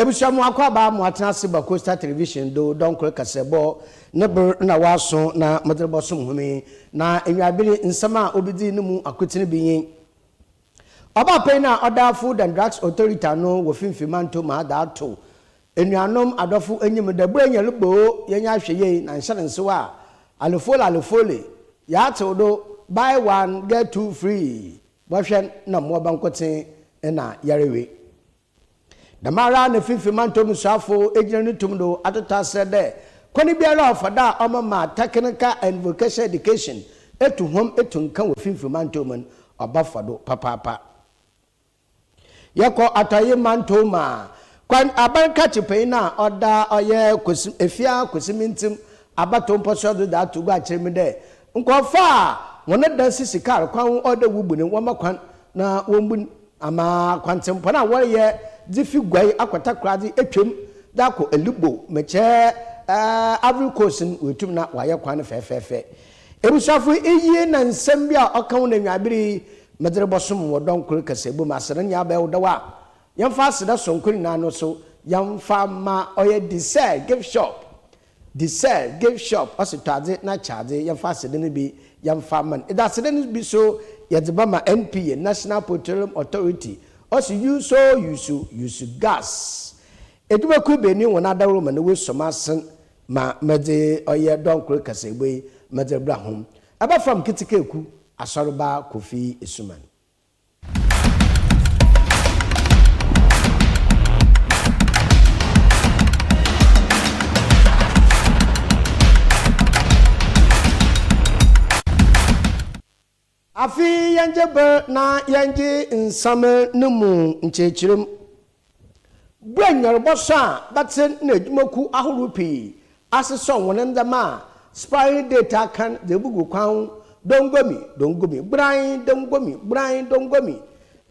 Ebusua mu akɔaba moatsena ase ba Coastal Television do dɔnkor kasabɔ ne ber na wɔaso na modze robɔsom hom yi, na nyiaber yi nsɛm a obidzii no mu akotsen bi nye, Ɔbaapanyin a ɔda Food and Drugs Authority ano wɔ Finfi Manto mu adze ato enuanom adɔfo enyim dɛ bue hɛn bo yɛnyɛ ahwɛyie na nhyɛ no nsew a, Alefole Alefole, Yɛatsew do, Buy one, get two free. Bɔhwɛ na mmoa bankotsen na yarwe. Dɛmara na Fifi Mantɔw mu suafo gyina no tum do atotɔ aserɛ dɛ kwan biara a ɔfa do a ɔbɛma technical and vocational education etu hom etu nkã wɔ Fifi Mantɔw mu no, ɔbɔfa do papaapa. Yɛkɔ Atɔe Mantɔw mu a, Kwan Aban Katse panyin a ɔda ɔyɛ Kwesi Efia Kwesi Mintsem Abattow Mpɔsoa do dze ato gua akyerɛ mu dɛ, nkorɔfo a hɔn dan sisi kaar kwan ho ɔwɔ dɛ wobu no, wɔmma kwan na wombu no ama kwantsempɔn a wɔreyɛ dze fi Guai akɔ Takoradze etwa mu dze akɔ Elugbo, Mekye, Ivory Coast no woetum na wɔayɛ kwan no fɛɛfɛɛfɛ. Ebusuafo iyi na nsɛm bi a ɔka ho na nyiaber yi Medze robɔsom wɔ dɔn kor kaseɛbɔ mu. Aseda nyina bɛyɛ wo dɛw a, yɛmfa aseda soronko nyina no so yɛmfa mma ɔyɛ Desire Gift Shop. Desire Gift Shop, ɔse tɔ adze na kyɛ adze. Yɛmfa aseda no bi yɛmfa mma no. Edze aseda no bi so yɛdze bɛma NPA, National Petroleum Authority, ɔse use o use, use gas. Edwumakuw ebeenu hɔn adaworo ma no woesuo m'asen ma medze ɔyɛ dɔn kor kaseɛbɔ yi medze rebra hom. Aba fam ketsekaakuw. Asɔreba Kofi Asuman. Afei yɛngye ber na yɛngye nsɛm no mu nkyerɛkyerɛmu Bua nyarbɔsõ a bɛtse na edwumakuw ahorow pii asesɔw hɔn ndzɛmba a spying data kan dze ebugu kwan Dongomi, Dongomi, Gborae, Dongomi, Gborae, Dongomi,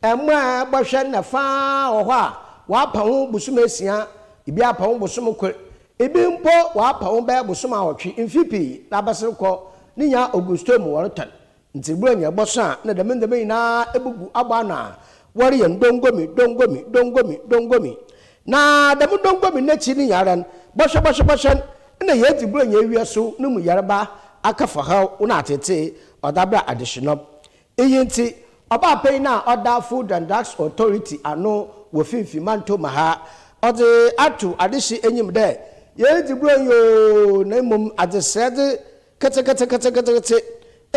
mboa a ebɔhwɛ ndɛ fa ara wɔ hɔ a wɔapa ho bosoom esia, bi apa ho bosoom kor, bi mpo wɔapa ho bɛyɛ bosoom awɔtwe, mfe pii na abɛsen kɔ ne nyinaa Augusto mu wɔrotɔn. Ntsi ber a nyia bɔsõ a nna dɛm ndzɛmba nyina ebubu abɔ ano a wɔreyɛ no dongomi, dongomi, dongomi, dongomi. Na dɛm dongomi n'ekyir no nyinara no, bɔhwɛ, bɔhwɛ, bɔhwɛ no, nna yeedzi ber a nyia ewia so no mu yarba, akafɔhaw na atseetsee, ɔdze abra adehyenɔ. Iyi ntsi, ɔbaa panyin a ɔda Food and Drugs Authority ano wɔ Finimfin Mantɔmu ha, ɔdze ato adehye enyim dɛ, Yeedzi bronyi oo, na mbom adzesɛɛ dze, Ketseketseketseketse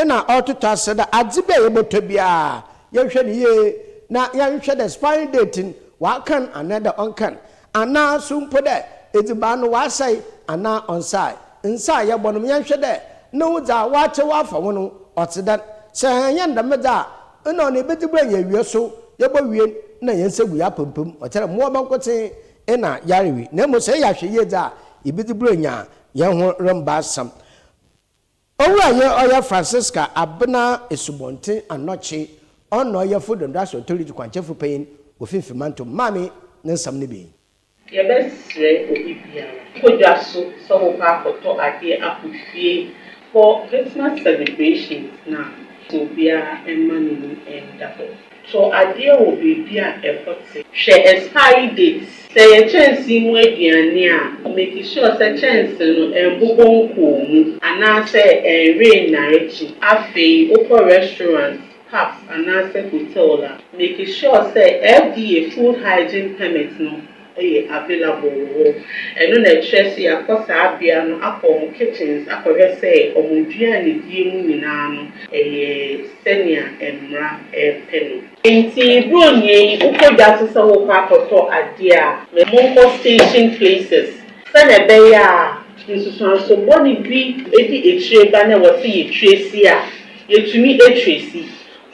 na ɔrototɔ ase dɛ adze bi a yɛbɔtɔ biara. Yɛnhwɛ no yie na yɛnhwɛ dɛ expiring date no ɔakan anaadɛ ɔnnkan, anaa so mpo dɛ edziban no ɔasɛe anaa ɔnnsae. Nsa a yɛbɔnom, yɛnhwɛ dɛ no dza wɔakyɛw afa ho no ɔtse dɛn. Sɛ annyɛ no dɛm dze a, nna ɔno ebedzi ber a yeewie so, yebowie no na hɛn nsa gu yɛn apampam. Ɔkyerɛ dɛ mowɔ bankotsee na yarewee, na mbom sɛ eyɛ ahwɛyie dze a, ibedzi ber enya Yɛn ho remba asɛm. Owura yɛ ɔyɛ Francisca Abena Esubɔnten Anɔkye ɔna ɔyɛfo Donduase Authority kwankyɛfo panyin wɔ Finfin Mantom. Maame ne nsɛm no bi ni. Yɛbɛsrɛ obi biara kɔ dwa so sɛ wokɔ akɔtɔ adeɛ akɔ fie wɔ Christmas celebrations no a, sɛ obiara mma n'ani nda hɔ. Tɔ adeɛ wɔ baabi a ɛhɔ te. Hwɛ expiry date. Sɛ ɛyɛ kyɛnsee mu aduane a, make sure sɛ kyɛnsee no ɛnbobɔ nkɔɔ mu anaasɛ ɛnwe nnarekye. Afei wokɔ restaurant, pubs anaasɛ hotel a, make sure sɛ FDA Food Hygiene Permit no yɛ available wɔ hɔ. Ɛno na ɛkyerɛ sɛ yɛakɔ saa bea no akɔ wɔn kitchens akɔhwɛ sɛ wɔn aduan a yɛdie mu nyinaa no ɛyɛ sɛnea mmara repɛ no. Nti bronyie yi wokɔ dwa so sɛ worekɔ akɔtɔ adeɛ a, monkɔ station places sɛnea ɛbɛyɛ a nsusuanso bɔne bi di akyire ba na ɛwɔ sɛ yɛtresi a, yɛtumi tresi.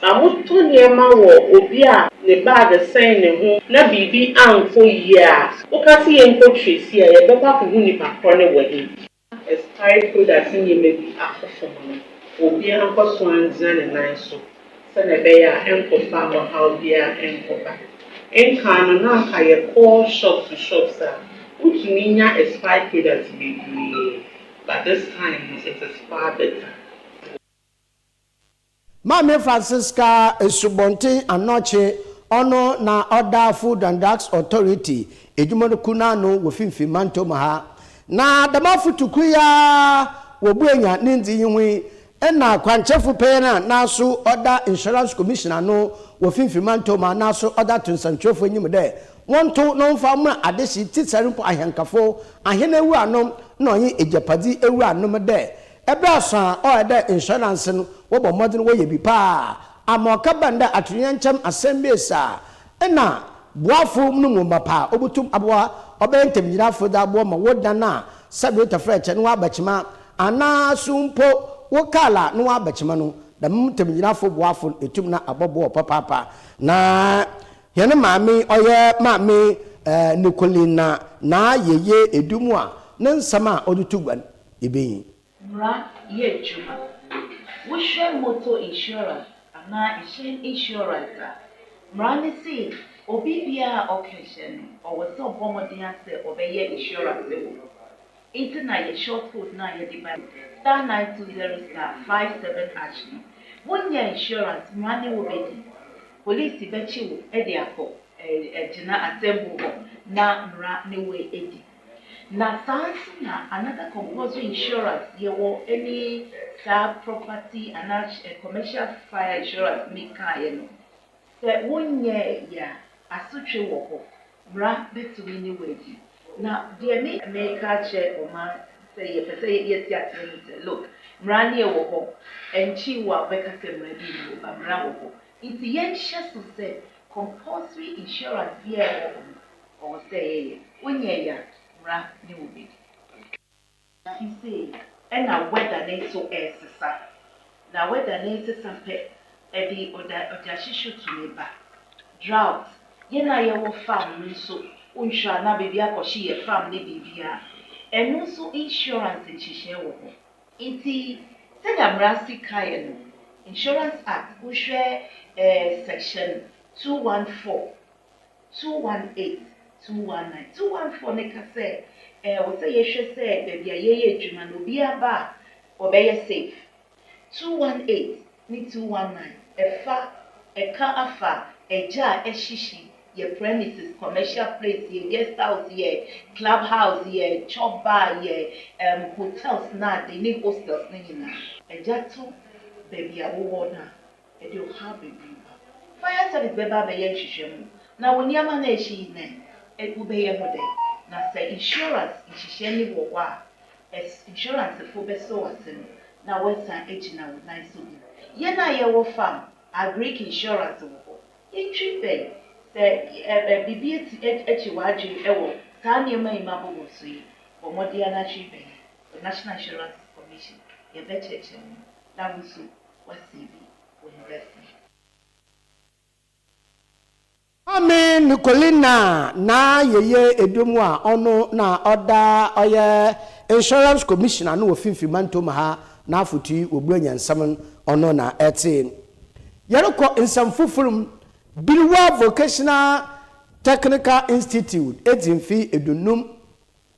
Na motɔ nneɛma wɔ obi a ne bag sɛn ne ho na biribi ankɔ yie a, woka sɛ yɛnkɔ Tracy a, yɛbɛkɔ akɔhu nnipa korɔ no wɔ he? Expiry product nneɛma bi akɔ fam no, obiara nkɔ so angyina ne nan so sɛdeɛ ɛbɛyɛ a ɛnkɔfa ɔhaw biara nkɔba. Nkan no, na anka yɛkɔ shops to shops a, wotumi nya expired products bebree, but this time no, it is far better. Maame Francisca Asubɔnten Anɔkye, ɔno na ɔda Food and Drugs Authority edwumakuw no ano wɔ Finimfin Mantɔw mu ha. Na dɛm afotu kor yi ara wobuenya ne ndzii ho yi na kwankyerɛfo panyin a naaso ɔda Insurance Commission ano wɔ Finimfin Mantɔw mu a naaso ɔdze ato nsɛnkyerɛwfo enyim dɛ wɔntow na wɔmfa mmra adehye tsitsar mpo ahɛnkafo, ahen ewuranom na ɔnye egyapadze ewuranom dɛ Ber a sõ a ɔyɛ dɛ nsɔe no anse no wɔbɔ mbɔdzen wɔyɛ bi paa ama ɔkɛbɛn dɛ atoyerɛnkyɛm asɛmbɛesi a nna boafo no mu mapã a obotum aboa ɔbɛyɛ ntamugyinafo dze aboa ma wo dan a cybreta frɛ kyɛ no wɔabɛkyema anaa so mpo wo kaar a no wɔabɛkyema no, dɛm ntamugyinafo boafo no etum na abɔboa wo papaapa. Na hɛn maame yi ɔyɛ Maame Nicolina Naa Yeye Edumu a ne nsɛm a ɔdze to gua no. ebenyin. Mmara yɛ adwuma. Wohwɛ motor insurance anaa ɛhyɛn insurance a, mmara no se obi biara a ɔka ɛhyɛn no, ɔwɔ sɛ ɔbɔ mmɔden ara sɛ ɔbɛyɛ insurance wɔ hɔ. Enti na yɛ short code no a yɛde bae, star nine two zero star five seven hash no, wonyɛɛ insurance, mmara ne wo bedi. Polisi bɛkye wo de akɔ ɛɛ ɛgyina atemmu hɔ na mmara ne wo adi. Na saa nso na another compulsory insurance yɛwɔ ɛne saa property anaa commercial fire insurance mi kaeɛ no sɛ wonyɛɛ yɛ a asotwe wɔ hɔ mmara bɛtumi ne wo adi na deɛ me meka akyerɛ ɔman sɛ yɛpɛ sɛ yɛte aseɛ no sɛ look mmara ne ɛwɔ hɔ ɛnkyi wo a wobɛka sɛ mmara bi ne ba mmara wɔ hɔ nti yɛnhyɛ so sɛ compulsory insurance biara ɛwɔ hɔ no Ɔwɔ sɛ yɛyɛ. Wonyɛɛ ya mmra ne wo bedi. Fi sei ɛna weather ne so ɛɛsesa. Na weather no ɛɛsesa pɛ ɛde ɔda ɔdahyehyɛ tumi ba. Drought, yɛn a yɛwɔ farm no nso wonhwɛ a na baabi akɔhye yɛ farm ne biribiara. Ɛno nso insurance nhyehyɛɛ wɔ hɔ. Nti sɛnea mmara si kaeɛ no, Insurance Act, wohwɛ ɛɛ section two one four. 218 219 214 no ka sɛ ɛwɔ sɛ yɛhwɛ sɛ baabi a yɛyɛ adwuma no obiara ba a ɔbɛyɛ safe. 218 ne 219 ɛfa ɛka afa ɛgya a ɛhyehye yɛ premises, commercial place, yɛ guest house, yɛ club house, yɛ chop bar, yɛ um, hotels na ade ne hostels no nyinaa. Ɛgya to baabi a wowɔ no a, Ɛde ɔhaw bebree ba. Fire service bɛba abɛyɛ nhwehwɛmu na wo nneɛma no a ɛhye yi nɛ wobɛyɛ ho dɛn? Na sɛ insurance nhyehyɛɛ no wɔ hɔ a, ɛs insurance fo bɛsɔ w'ase no na woasan agyina wo nan so bio. Yɛn a yɛwɔ farm, agric insurance wɔ hɔ. Ntwi bɛn. Sɛ ɛ ɛ biribi ati ɛ akyi w'adwene wɔ saa nneɛma yi ma bobɔ so yi, bɔ mmɔden ara na twi bɛn yɛn, the National Insurance Commission. Yɛbɛkyerɛkyerɛ wo na wo nso Wasi bi wɔ university bi. Maame Nicolina na yɛyɛ edwom a ɔno na ɔda ɔyɛ insurance commissioner no wɔ finfin mantom ha n'afotui wɔ Buronya nsɛm no ɔno na ɛte. Yɛrekɔ nsɛm fofor mu, Birwa Vocational Technical Institute edzi mfe edunnum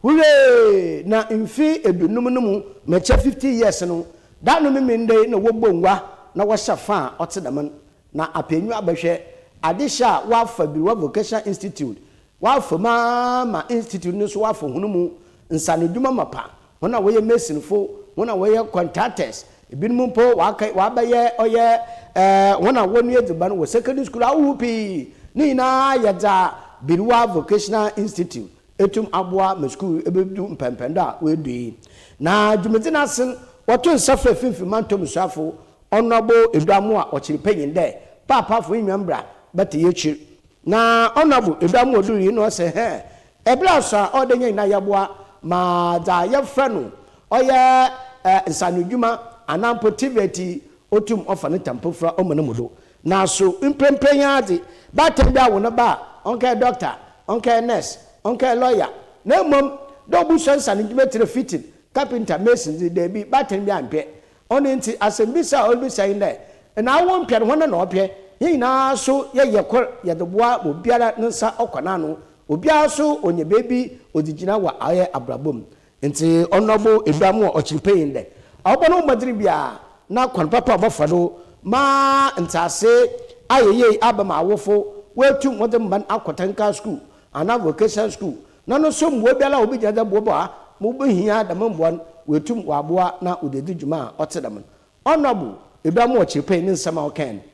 Hurray! Na mfe eduonum no mu mɛkyɛ fifty years no, da no Memeneda yi na wɔbɔ ngua na wɔhyɛ fa a ɔtse dɛm no. Na apɛnyiwa bɛhwɛ adzehyɛ a wɔafa Birwa Vocational Institute, wɔafa mu ara ma Institute no so wɔafa hɔn mu nsanodwuma mapa, hɔn a wɔyɛ masonfo, hɔn a wɔyɛ contractors, binom mpo wɔakɛy wɔabɛyɛ ɔyɛ eh, hɔn a wɔnoa edziban wɔ secondary school ahohorow pii. Ne nyina yɛ dza Birwa Vocational Institute etum aboa ma skuul ebedu mpɛnpɛndo a oedu yi. Na dwumadzi n'ase no, wɔtoo nsa frɛɛ Finimfin Mantɔw mu Suafo Honourable Eduamoa Ɔkyerepɛnyin dɛ, Paapaafo nye hɛn bra bɛtse y'ekyir. Na Honourable Eduamoa dur yi na ɔse, Hɛn bra so a, ɔwɔ dɛ hɛn nyina yɛboa ma dza yɛfrɛ no ɔyɛ nsaanodwuma anaa mpo tvt otum ɔfa ne tampofua ɔma no mu do. Naaso, mprɛmprɛ yi ara dze, baatan bi awo ne ba a, ɔnnkɛyɛ dɔkta, ɔnnkɛyɛ nurse, ɔnnkɛyɛ lɔya, na mbom dɛ obosua nsa no ndwuma tsir, fitting, carpenter, mason dze, dabi, baatan bi ammpɛ. Ɔno ntsi, asɛmbisa a oribisa nye dɛ, Nna awo mmpɛ no, hɔn na wɔpɛ? Hɛn nyina so yɛyɛ kor, yɛdze boa ma obiara ne nsa ɔkɔ n'ano, obiara so onya beebi odze gyina wɔ ɔyɛ abrabɔ mu. Ntsi Ɔnoɔbo Eduamu a ɔkyerpɛnyin dɛ ɔbɔ no mbɔdzen biara na kwan papa a ɔbɔfa do ma ntseasee ayɛ yie aaba ma awofo woetum wɔdze mba no akɔ tanka skuul anaa vocational skuul na no so mboa biara a wobegyina dɛ boboa ma wobohia dɛm mboa no woetum wɔaboa na wɔdze edzi dwuma a ɔtse dɛm no. Ɔnoɔbo Eduamu a ɔkyerpɛnyin ne nsɛm a ɔkãe no.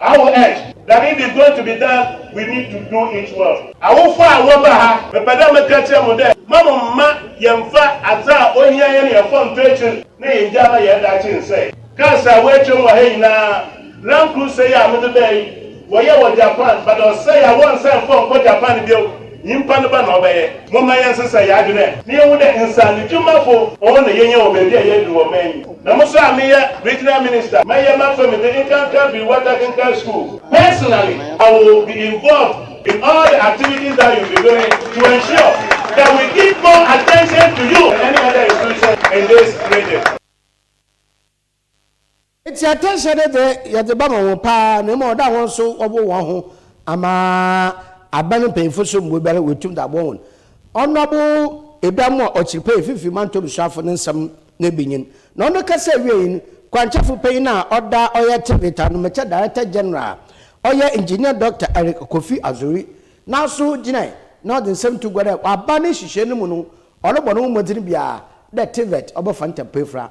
Awo Ed, that if it's going to be done, we need to do it well. Awofo a wɔba ha, mepɛ dɛ meka kyerɛ mo dɛ, mma mo mma yɛmmfa adze a ohia hɛn hɛn fɔntɔ ekyir na yenngyaa ma hɛn daakye nnsɛe. Cars a woetwa mu wɔ ha nyina, Land Cruiser yi a medze bae yi, wɔyɛɛ wɔ Japan, but ɔsɛe a wɔnnsan mmfa nnkɔ Japan bio. Nyimpa ne ba na ɔbɛyɛ. Momma yɛnsesa hɛn adwen ɛ na yenhu dɛ nsaanodwumafo hɔn na yehia wɔ beebi a yɛadur wɔ ɔman yi. Na mo so a meyɛ Regional Minister, mɛyɛ m'afa mu dze nkanka fir Wata Kenkan Skuul. Personally, I will be involved in all the activities that you will be doing to ensure that we give more attention to you and any other institution in this region. Ntsi atanhyɛ no dze yɛdze bɛma hɔn paa na mbom ɔda hɔn so wɔboa hɔnho ama aban mpanyimfo so mboa biara woetum dze aboa hɔn. Ɔnobo Ebɛamu a ɔtser pɛn Mfinfin Mantɔw Suafo no nsɛm no ebinyin, na ɔno kasaa wiei no, kwankyerɛfo panyin a ɔda ɔyɛ Trinity Anomekyɛ Director General a ɔyɛ Engineer Dɔkta Eric Kofi Azori naaso gyinae na ɔdze nsɛm too gua dɛ wɔ aban ne nhyehyɛɛ no mu no ɔrobɔ noho mbɔdzen biara dɛ TVET ɔbɔfa ntampefra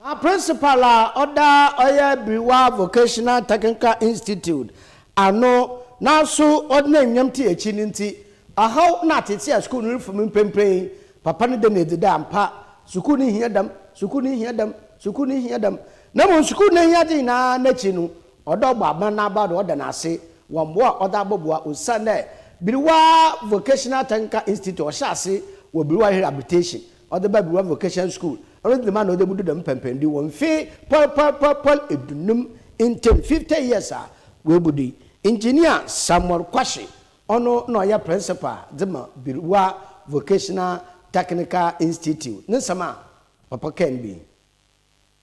Na Principal a ɔda ɔyɛ Biriwa Vocational Technical Institute ano nanso ɔnam nyam te akyi no nti, ɔhaw na atete a sukuu no refa mu mprempren. Papa no da no adi dɛ ampa, sukuu no hia dɛm, sukuu no hia dɛm, sukuu no hia dɛm. Na mmom sukuu no ahiade nyinaa no akyi no, ɔde ɔbɔ aban no aba do ɔda no ase wɔ mboa a ɔdze abɔboa osiandɛ Biriwa Vocational Technical Institute ɔhyɛ ase wɔ Biriwa Rehabilitation Ɔdze baa Biwa Vocation School. Ɔno dze dɛmara na ɔdze ebudu dɛm pɛnpɛndu wɔ mfe pɔrpɔrpɔrpɔr eduonum ntamu, fifty years, a oebudu yi. Engineer Samuel Kwahye, ɔno na ɔyɛ Principal dze ma Biwa Vocational Technical Institute. Ne nsɛm a papa kãe no bi nye.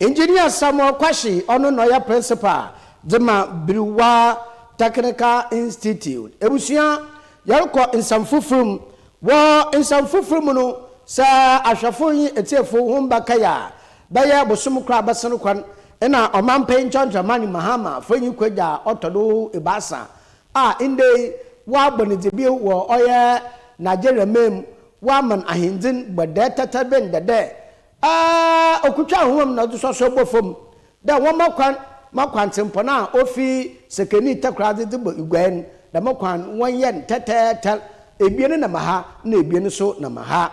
Engineer Samuel Kwahye, ɔno na ɔyɛ Principal dze ma Berewa Technical Institute. Ebusua, yɛrokɔ nsɛm fofor mu. Wɔ nsɛm fofor mu no, sɛ ahwɛfo nye etsiefo hom bɛkae a, bɛyɛ bosoom kor a abɛsen kɔ no, nna ɔmampanyin Chonchon Mani Mahama Afenyi Kwagya a ɔtɔ do ebiasa a ndɛ yi wɔabɔ ne dze bio wɔ ɔyɛ Nigeria man mu Wɔaman ahendzi no bɔdɛɛ tɛtɛr bi ndɛ dɛ, a okutwa ahoma mu na ɔdze sɔsɔɔ bɔ famu, dɛ wɔmma kwan ma kwantsempɔn a ofi sekenii takoradze dze bɔ iguan no, dɛm kwan no wɔnyɛ no tɛtɛɛtɛr, ebien nam ha na ebien so nam ha.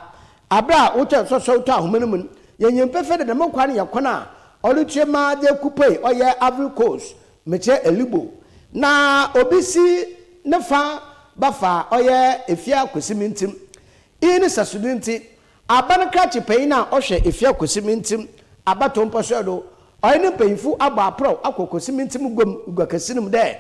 Aber a wotwa nsɔsɔw to ahoma no mu no, yenyim pefee dɛ dɛm kwan no yɛ kwan a ɔrotua mu ara dze ekopue ɔyɛ Ivory Coast Mekyerɛ Elibo na obi si ne fa ba fa a ɔyɛ Efia Kwesi Mintim. Iyi ne sɛsodzi ntsi, aban krakye panyin a ɔhwɛ Efia Kwesi Mintim abatow mpɔsoɛr do, ɔnye ne mpanyimfo abɔ aprɔw akɔ Kwesi Mintim guam guakɛse no mu dɛ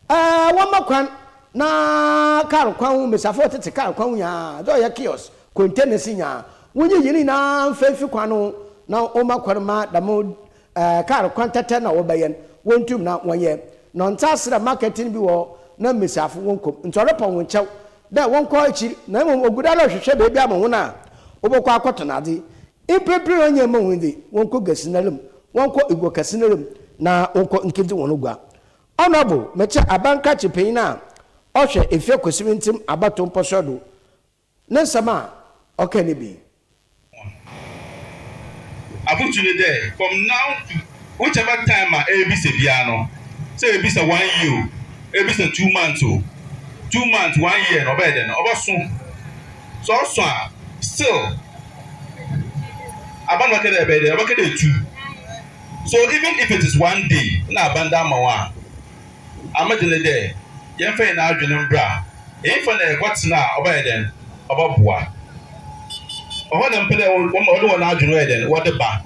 wɔmma kwan na kaar kwan ho mbasiafo a wɔtsetse kaar kwan ho nyina, dza ɔyɛ kiosk, containers nyina, wonyiyi ne nyina mfa mfi kwan no ho na wɔmma kwan mma dɛm Ɛɛ kaar kwan tɛtɛ na wɔbɛ yɛn, wɔn tum na wɔn yɛ nɔ ntsa serɛ marketing bi wɔ hɔ na mbasiafo wɔn kɔ mu ntsi ɔrepɔn hɔn kyɛw dɛ wɔn kɔ ekyir na mbom ogu do ara rehwehwɛ beebi ama hɔn a wɔbɔ kɔ akɔ tɔn adze. Mprempren no ɔnnyɛ mma hɔn dze wɔn kɔ gua sinara mu, wɔn kɔ egua kɛse no ara mu na wɔn kɔ nkedzi hɔn gua. Honourable, metse abankrakye panyin a ɔhwɛ efie kwesiri ntsem abatow mpɔsoɛr do, Ne nsɛm a ɔkãe no bi. Hɔn afotu nye dɛ, From now to whichever time a erebisa biara no, sɛ ebisa one year o, ebisa two months o, two months, one year no ɔbɛyɛ dɛn? Ɔbɔsõ. Sɛ ɔsõ a, still aban no bɛkɛ dɛ ebɛyɛ dɛn? Ɔbɛkɛ dɛ etu. So even if it is one day na aban dze ama wo a. a me de ne dɛ yɛmfa hɛn adwen mbra nyimfa na yɛkɔtsena a ɔbɛyɛ dɛn, ɔbɔboa. Hɔn na mepɛ dɛ wɔdze hɔn adwen wɔyɛ dɛn, wɔdze ba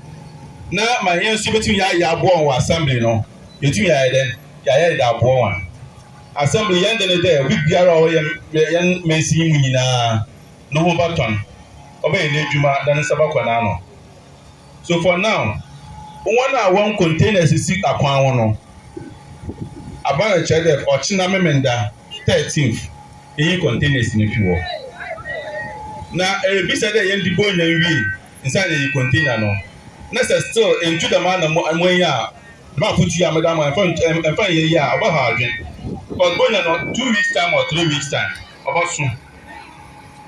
na ma hɛn so yebotum yɛayɛ aboa hɔn wɔ assembly no, yetum yɛayɛ dɛn, yɛayɛ dze aboa hɔn. Assembly, hɛn de ne dɛ obi biara a ɔwɔ hɛn mansin yi mu nyina no ho bɔtɔn, ɔbɛyɛ n'edwuma na ne nsa bɔkɔ n'ano. So for now, wɔn a wɔn container sisi akwan ho no, aba no kyerɛ dɛ ɔkyena Memenda thirteenth yɛnyi containers no fi hɔ. Na erebisa dɛ yɛn de bonya nwie nsa na yɛyi container no, na sɛ still entu dɛm a na moenyi a, dɛm afotu yi a meda mo ɛmfa ntu ɛmfa nyɛ yie a ɔbɛhaw adwen. Cos bonya no two weeks time or three weeks time ɔbɔso.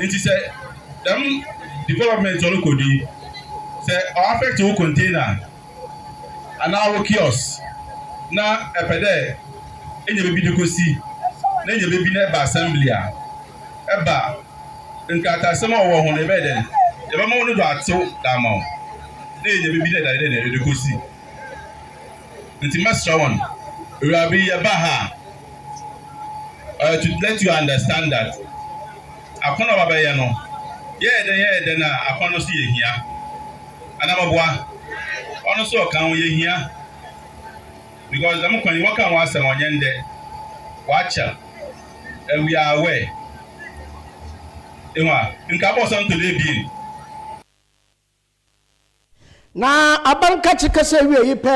Ntsi sɛ dɛm development rokɔ do yi, sɛ ɔ affect wo container anaa wo kiosk na epɛ dɛ enya beebi dze kosi na enya beebi na eba assembly a, eba nkrataasɛm a ɔwɔ ho no yɛbɛyɛ dɛn, yɛbɛma wo no do atsew dze ama wo na enya beebi dɛ edze kosi. Nti mɛsrɛ wɔn, awuraba yi yɛba ha a, uh, to let you understand that akɔnɔ a wabɛyɛ no, yɛyɛ dɛn yɛyɛ dɛn a akɔnɔ no so yɛ hia. Anamaboa, ɔno nso ɔka ho yɛ hia. Because dɛm kwan yi wɔka ho asɛm ɔnyɛ ndɛ, wakyɛ, and we are aware. Ehu a, nka bɔsɔ ntɔle ebien. Na aber nkãtse kasa wiei pɛ,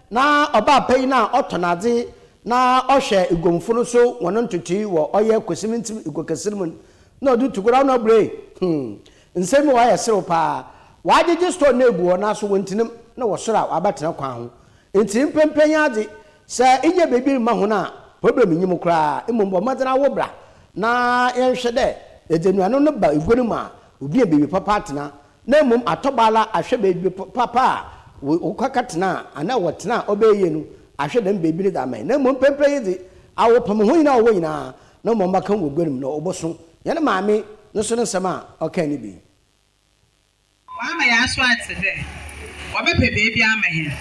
na ɔbaa panyin a ɔtɔ n'adze na ɔhwɛ eguamfo no so hɔn ntotoe wɔ ɔyɛ Kosimintsim eguakɛse mu no, na ɔdze tokura ano buei. Hmm, nsɛm bi wɔ hɔ a yɛ serew paa. Wɔagyegye store no egu hɔ naaso wonntsena mu, na wɔ sor a wɔabɛtsena kwan ho. Ntsi mprɛmprɛ nyɛ adze. Sɛ innya beebi mma hɔn a, problem nnyi mu koraa. Mbom bɔ mbɔdzen ara wo bra na yɛnhwɛ dɛ yɛdze enuanom no ba egua no mu a, Oduaa baabi papa atena, na mmom atɔ bɛ ara ahwɛ baabi papa a wɔkɔka tenaa anaa wɔtena a ɔbɛyɛ yie no, ahwɛ dɛm baabi no dze ama hɛn. Na mbom mprɛmprɛ yi dze, awɔpam hɔn nyina a wɔwɔ nyina, na wɔma wɔbɛka wɔ gua no mu, na wɔbɔsõ. Hɛn maame no so ne nsɛm a ɔkãe no bi. Ɔama yɛaso atse dɛ wɔbɛpɛ beebi ama hɛn,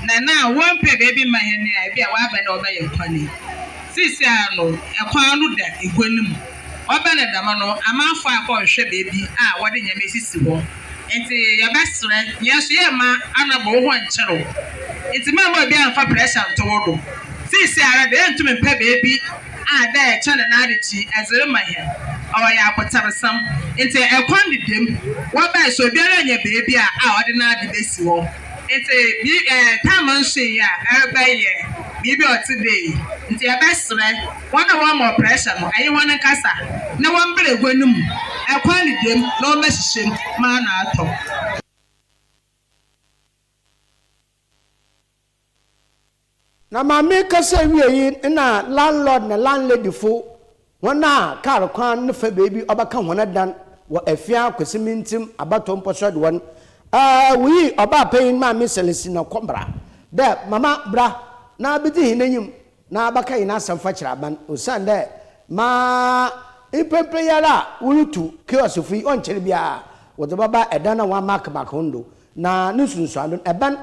na na wɔmmpɛ beebi mma hɛn a, bi a wɔaaba na wɔbɛyɛ kwan yi. Seseiara no, kwan no da gua no mu. Ɔba no dɛm no, amanfoɔ akɔ nhwɛ baabi a wɔde nneɛma asisi hɔ, nti yɛbɛserɛ. Yɛn nso yɛremma anɔba wo ho nkyere wo, nti mɛmma obiara mmfa pressure nto wo do. Seesei ara de, yɛntum mmpɛ baabi a dɛ yɛkyɛ no n'adekye dze rema hɛn. Ɔwɔ yɛ abotarsɛm, nti kwan deda mu. Wɔbae so obiara nnya baabi a a ɔde n'ade besi hɔ, nti bi eh, tam nso nnyi a ɛrebɛyɛ biribi a ɔtse dɛ yi, nti yɛbɛserɛ Hɔn a wɔama ɔprɛhyɛ no, aye hɔn nkasa na wɔmber egua no mu, akwan no dam na wɔbɛhyehyɛ mu ma ano atɔ. Na ma me kasa ewiei na landlord na landlady fo, hɔn a kaar kwan no fa beebi ɔbɛka hɔn dan wɔ Afia, Kwesi Mintsim, Abatɔ Mpɔsɔd hɔn, eh, woyi ɔbaa panyin Maame Celestina Kɔmbra dɛ mama bra na bedzi hɛn enyim na abɛka hɛn asɛm fakyerɛ aban, osiandɛ ma mprɛmprɛ yi ara a worutu kioskfo yi, ɔnnkyɛr biara wɔdze bɛba dan a wɔamarkmark ho no do, na no nsunsuando no, ban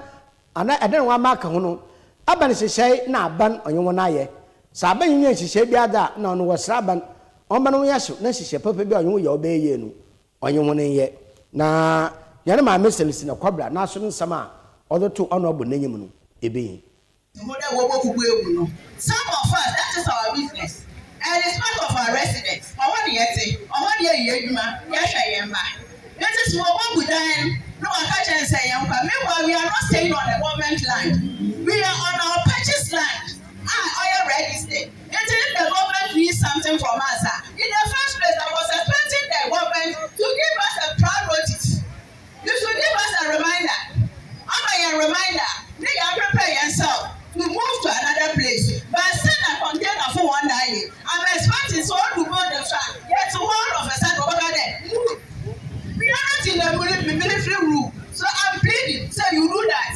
anaa dan a wɔamark ho no, aban nhyehyɛɛ na aban ɔnye hɔn ayɛ. Sɛ aban nnyɛ nhyehyɛɛ biara dze a, nna ɔno wɔsera aban ɔmma no nyɛ hyew na nhyehyɛɛ papa biara a ɔnye hɔn yɛ a ɔbɛyɛ yie no, ɔnye hɔn nyɛ. Na hɛn Maame Celestina Kɔbra n'aso no nsɛm a ɔdze too ɔno ɔbɔ n'enyim no, yebehia. Ihu dɛ wɔbɔ kuku egu no. Some of us, that is our business and it's part of our residence, ɔhɔ na yɛtse, ɔhɔ na yɛyɛ hɛn edwuma, yɛhwɛ hɛn mba. Ntsi sɛ wɔbɔ gu dan no na wɔaka kyerɛ hɛn sɛ yɛnkɔ, meanwhile we are not staying on a government land, we are on our purchased land a ɔyɛ registered. Ntsi if the government needs something from us a, in the first place I was expecting the government to give us a prior notice. You should leave us a reminder Ɔma yɛn reminder ne yɛn prepare yɛn self to move to another place But sɛ na container fo wɔn da ye I'm expecting sɛ ɔdu building so a yɛte hɔ all of a sudden ɔbɛka dɛ Move We are not in the mood mimini firi room So I'm pleading sɛ you do that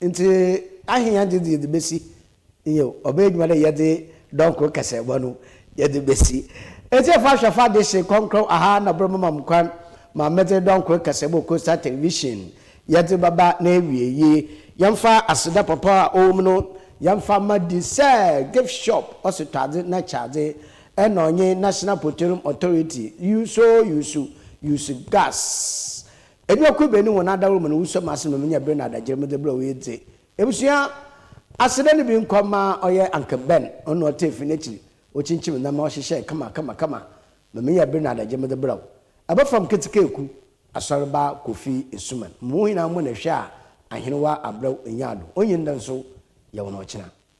Ntsi ahen adze dze yɛdze besi? Nyew, ɔbɛyɛ edwuma dɛ yɛdze dɔn kor kɛse bɔ no yɛdze besi. Etsiefo ahwɛfo adehye krɔnkrɔn ɔha na bor bɛma me kwan ma medze dɔn kor kɛse bɔ Coastal Television yɛdze bɛba n'ewiei. Yɛmfa aseda papa a ɔwɔ mu no yɛmfa mma di sɛ Gift Shop Ɔsetɔadze na Kyɛadze na ɔnye National Poterum Authority, Uso Usu Usu Gas Enuakuabea no hɔn adawar mu no wusua mu asɛm na minya ber na adagyer medze brɛ wo edze ebusua aseda no bi nkɔ ma ɔyɛ Uncle Ben, ɔno na ɔtaa fi n'ekyir okyinkyim nam na ɔhyehyɛɛ kama kama kama ma minya ber na adagyer medze brɛ wo. Abafam Ketsekaaku, Asɔrba Kofi Asuman, Mo hom nyina mo na hwɛ a Ahenwa abrɛw nyaado, onyin dɛ nso yɛwo no ɔkyena.